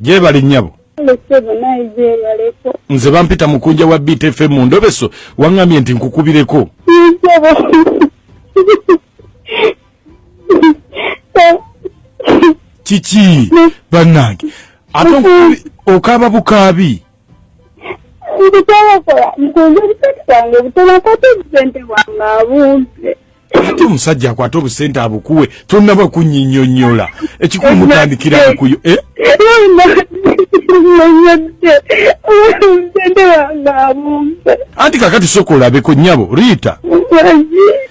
gyebali nyabo nze bampita mukunja wa btfm mu ndobeso waŋŋambye nti nkukubireko kiki bannange ate okaaba bukaabi ndikyabakola nkunze obusente bwange butono akwata obusente bwange abumpe ate omusajja akwata obusente abukuwe tonaba kunyinyonyola ekikulu mutandikira bukuyo eh? anti kakati soka olabeko nyabo riita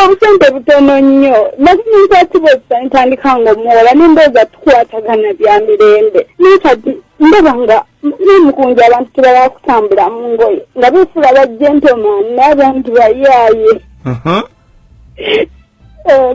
obusente butono nnyo nakinyinza kibozesa ntandika nga omuwola nembooza tukwatagana bya mirembe naye kati ndaba nga nemukunja abantu tebala kutambula mu ngoye nga befuula ba gentleman naye abantu bayaaye uh-huh. oh,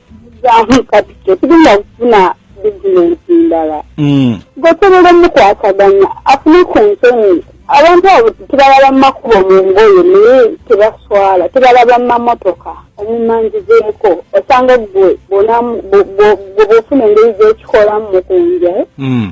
zamu kati tetulina kufuna bizinensi ndala mm. gosobola omukwataganya afune ku nsonyi abantu abo tebalaba mumakubo mu ngoyo naye tebaswala tebalaba mumamotoka omumanjizeko osanga gwe bwofuna engeri gyekikolamu mukunja eh? mm.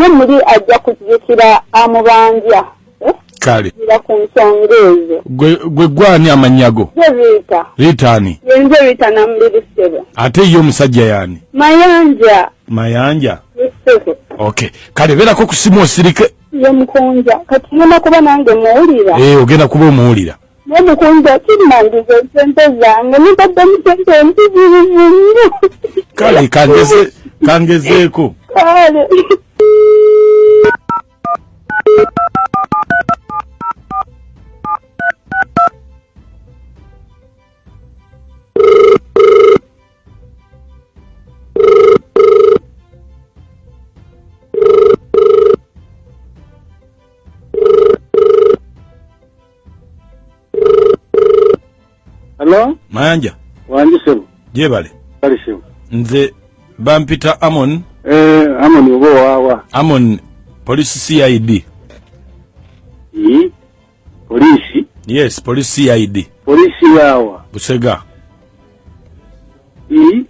ye muli ajja kujjukira amubanja eh? kale ira ku nsonga ezo gwe gwani amannya go riita riita ani yenze riita namuliri ssebo ate ye omusajja yani mayanja mayanja ssebo okay kale beerako ku simu osirike ye mukunja kati ngenda kuba nange muwulira ee eh, ogenda kuba omuwulira naye mukunja kimmandiza esente zange nibadde musente empitirivu nnyo kale kangezeeko kale Hello? Mayanja. Wanji sebo. Jebale. Kali sebo. Nze bampita Amon. Eh, Amon obo wawa. Amon police CID. Yi. Hmm? Police. Yes, police CID. Police yawa. Busega. Yi. Hmm?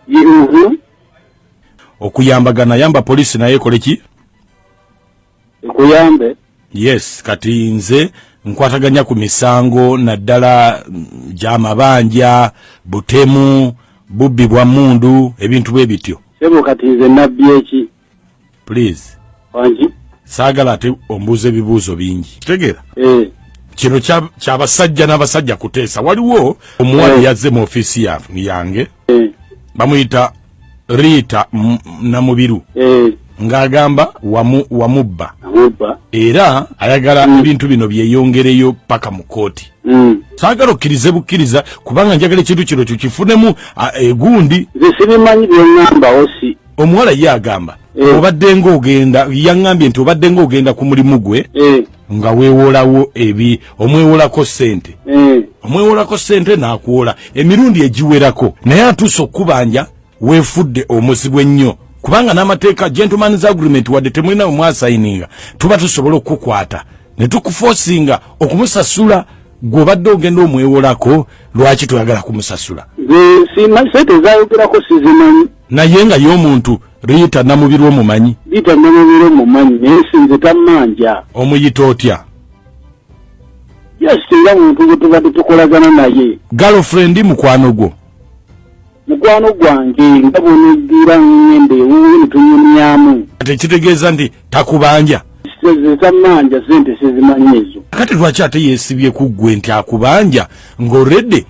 Yi uhu. Okuyambagana yamba police naye koleki. nkuyambe yes kati nze nkwataganya ku misango naddala mm, gyamabanja butemu bubbi bwa mundu ebintu bwe bityo sebo kati nze nabbi eki please wangi saagala ate ombuuza ebibuuzo bingi kitegeera eh. kino kyabasajja n'abasajja kuteesa waliwo omuwala eh. yazze mu ofiisi yange eh. bamuyita Rita Namubiru eh. ng'agamba wamu wamubba era ayagala mm. ebintu bino byeyongereyo paka mu kooti mm. saagala okkirize bukkiriza kubanga njagala ekintu kino kyo kifunemu egundi zisibimanyi byengamba osi omuwala ye agamba eh. obadde ngaogenda yaŋambye nti obadde ngaogenda ku mulimu gwe eh. nga wewolawo ebi omwewolako sente mm. omwewolako sente nakuwola emirundi egiwerako naye atuuse okukubanja wefudde omuzibu ennyo kubanga n'amateeka gentlemans agreement wadde temulina wemwasayininga tuba tusobola okukukwata ne tukufosinga okumusasula gwobadde ogenda omwewolako lwaki toyagala kumusasula sente zayogerako sizimanyi naye nga ye omuntu Rita Namubiru omumanyi? Rita Namubiru omumanyi naye sinze tammanja. Omuyita otya? Just nga muntu gwe tubadde tukolagana naye. Girlfriend mukwano gwo? Mukwano gwange nga bw'oneggira ng'enda ewuwe ne tunyumyamu. Kati ekitegeeza nti takubanja zezamanja sente sezimanyi ezo kati lwaki ate yesibye kuggwe nti akubanja ng'orede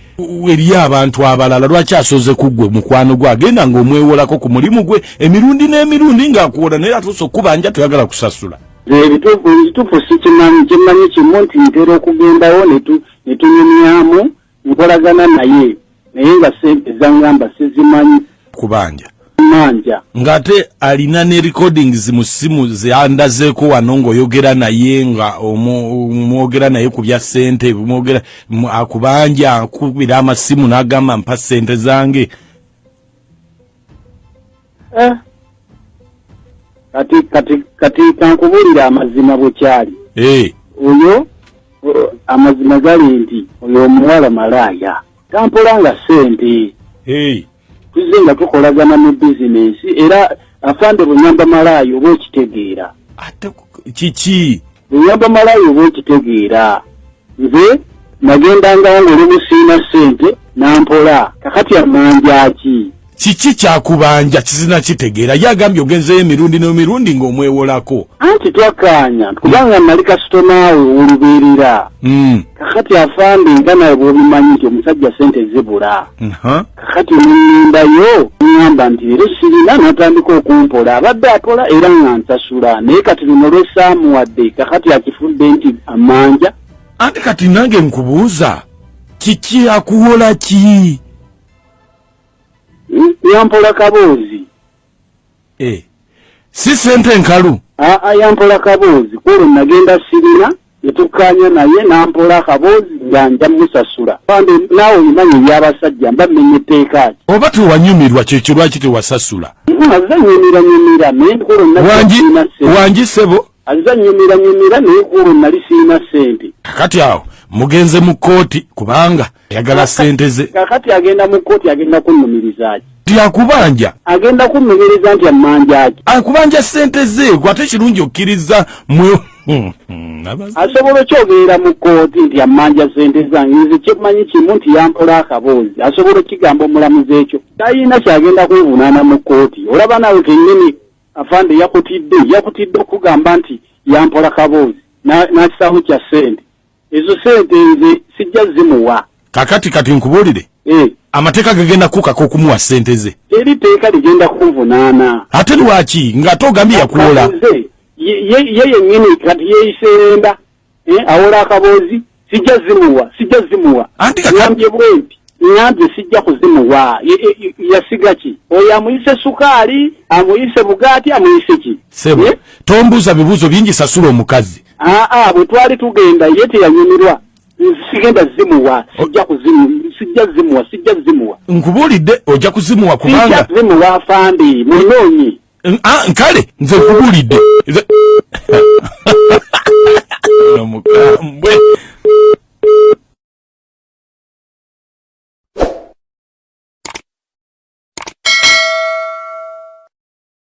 eriyo abantu abalala lwaki asoze kuggwe mukwano gwe agenda ng'omwewolako ku mulimu gwe emirundi n'emirundi ng'akuwola naye atuuse okukubanja toyagala kusasula ebituufu sikimanyi kimanyi kimu nti ntera okugendawo netunyumyamu nkolagana naye naye nga sente zangamba sizimanyi kubanja manja ngate alina ne recordings mu simu zandazeko wano ngoyogera naye nga omwogera naye ku bya sente mwogera akubanja akubira amasimu nagamba mpa sente zange Eh. kati kati kati kankubuulira amazima bwe kyali eh. oyo amazima gali nti oyo omuwala malaaya tampola nga ssente eh. tuzze nga tukolagana mu bizinensi era afande bunyamba malaaya oba okitegeera kiki Nyamba malayo oba okitegeera. Nze nagendangawo ng'olumu sirina ssente n'ampola. Kakati ammanja ki? Kiki kyakubanja kisina kitegeera ye agambye ogenzeyo emirundi n'emirundi ng'omwewolako. Anti twakkaanya kubanga nnali kasitomaawe ow'olubeerera. Hmm. Kakati afande nga nawe bw'obimanyi nti omusajja ssente zibula. Kakati nennimba yo ngamba nti era sirina natandika okumpola abadde apola era nga nsasula naye kati luno lwesaamuwadde kakati akifudde nti amanja anti kati nange nkubuuza kiki akuwola ki hmm? yampola kaboozi eh, si sente nkalu aa yampola kaboozi kwolwo nagenda sirina netukkaanya naye nampola akaboozi nga nja musasula pande naawe olimanya ebyabasajja mba mmenya etteeka ati oba tewanyumirwa kyekyo lwaki tewasasula aze nyumira nyumira naye nkulu nalina sente wangi sebo aze nyumira nyumira naye nkulu nali sirina sente kati awo mugenze mu kkooti kubanga ayagala sente ze kakati agenda mu kkooti agenda kunnumirizaki nti akubanja agenda kunnumiriza nti ammanjaki akubanja sente ze gwe ate kirungi okkiriza mwe hmm, hmm, asobola okyogerera mu kkooti nti ammanja sente zange nze kyemanyi kimu nti yampola akaboozi asobola okigamba omulamuzi ekyo tayina kyagenda kwevunaana mu kkooti olaba naawe kennyini afande yakutidde yakutidde okugamba nti yampola kaboozi n'akisaawo kya sente ezo sente nze sijja zimuwa kakati kati nkubulire eh. amateeka gagenda kukaka okumuwa sente ze eri teeka ligenda kunvunaana ate lwaki ngaate ogambye yakuwola ye yenyini kati yeyiseenda eh, awola akaboozi sijja zimuwa sijja zimuwa ambye bwenti ngambye sijja kuzimuwa yasiga ki oyo amuyise sukaali amuyise bugaati amuyise ki eh? tombuuza bibuuzo bingi sasula omukazi aa bwe twali tugenda ye teyanyumirwa sigenda zimuwa sijja kuzimu sijja zimuwa sijja zimuwa nkubuulidde ojja kuzimuwa kubanga sijja zimuwa afandi munoonyi ah, nkale nze nkubuulidde nomukambwe